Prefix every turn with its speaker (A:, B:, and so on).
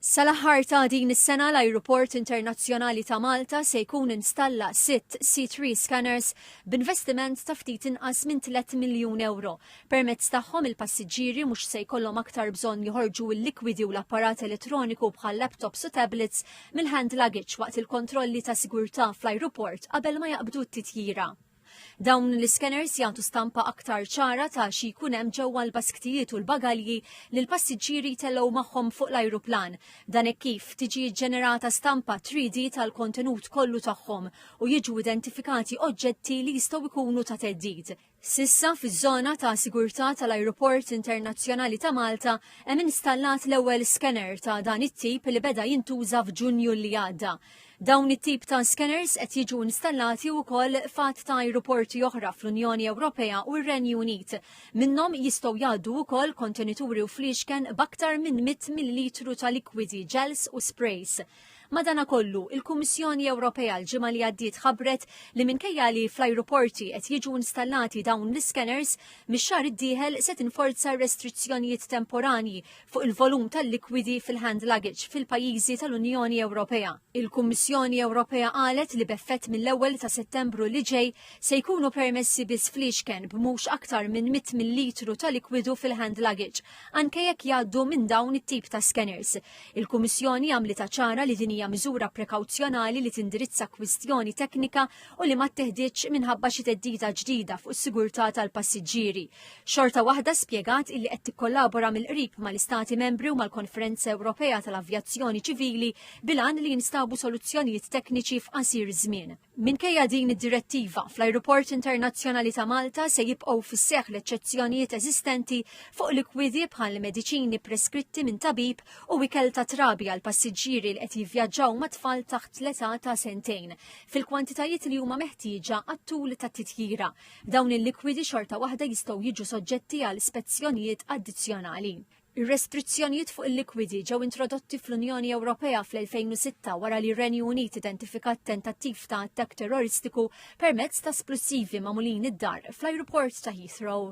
A: Sal-aħħar ta' din is-sena l-Ajruport Internazzjonali ta' Malta se jkun installa sitt C3 scanners b'investiment ta' ftit inqas minn tliet miljun ewro. Permezz tagħhom il-passiġġieri mhux se jkollhom aktar bżonn joħorġu l-likwidi u l-apparat elettroniku bħal laptops u tablets mill-hand luggage waqt il-kontrolli ta' sigurtà fl-ajruport qabel ma jaqbdu t-titjira. Dawn l-iskeners jagħtu stampa aktar ċara ta' xi jkun hemm ġewwa l-basktijiet u l-bagalji li l-passiġġieri jtellgħu magħhom fuq l-ajruplan. Dan hekk kif tiġi ġġenerata stampa 3D tal-kontenut kollu tagħhom u jiġu identifikati oġġetti li jistgħu jkunu ta' theddid. S'issa fiż-żona ta' sigurtà tal-Ajruport Internazzjonali ta' Malta hemm installat l-ewwel skener ta' dan it-tip li beda jintuża f'Ġunju li għadda. Dawn it-tip ta' skeners qed jiġu installati wkoll f'għadd ta' ajruporti oħra fl-Unjoni Ewropea u r-Renju Unit. Minnhom jistgħu jgħaddu wkoll kontenituri u fliexken b'aktar minn 100 millilitru ta' likwidi, ġels u sprays. Madanakollu, il-Kummissjoni Ewropea l-ġimgħa li għaddiet ħabbret li minkejja li fl-ajruporti qed jiġu installati dawn l-iskeners, mix-xahar id-dieħel se tinforza r-restrizzjonijiet temporanji fuq il-volum tal-likwidi fil-hand luggage fil-pajjiżi tal-Unjoni Ewropea. Il-Kummissjoni Ewropea qalet li b'effett mill-ewwel ta' Settembru li ġej se jkunu permessi biss fliexken b'mhux aktar minn 100 millilitru ta' likwidu fil-hand luggage, anke jekk jgħaddu minn dawn it-tip ta' skeners. Il-Kummissjoni għamlitha ċara li din hija miżura prekawzjonali li tindirizza kwistjoni teknika u li ma tteħditx minħabba xi theddida ġdida fuq is-sigurtà tal-passiġġieri. Xorta waħda spjegat illi qed tikkollabora mill-qrib mal-Istati Membri u mal-Konferenza Ewropea tal-Avjazzjoni Ċivili bil-għan li jinstabu soluzzjonijiet tekniċi f'qasir żmien. Minkejja din id-direttiva, fl-Ajruport Internazzjonali ta' Malta se jibqgħu fis-seħħ l-eċċezzjonijiet eżistenti fuq likwidi bħal mediċini preskritti minn tabib u ikel ta' trabi għal passiġġieri li qed jivvjaġġaw ma' tfal taħt l-età ta' sentejn fil-kwantitajiet li huma meħtieġa għat-tul tat-titjira. Dawn il-likwidi xorta waħda jistgħu jiġu soġġetti għal spezzjonijiet addizzjonali. Ir-restrizzjonijiet fuq il-likwidi ġew introdotti fl-Unjoni Ewropea fl-2006 wara li r-Renju Unit identifikat tentattiv ta' attakk terroristiku permezz ta' splussivi magħmulin id-dar fl-ajruport ta' Heathrow.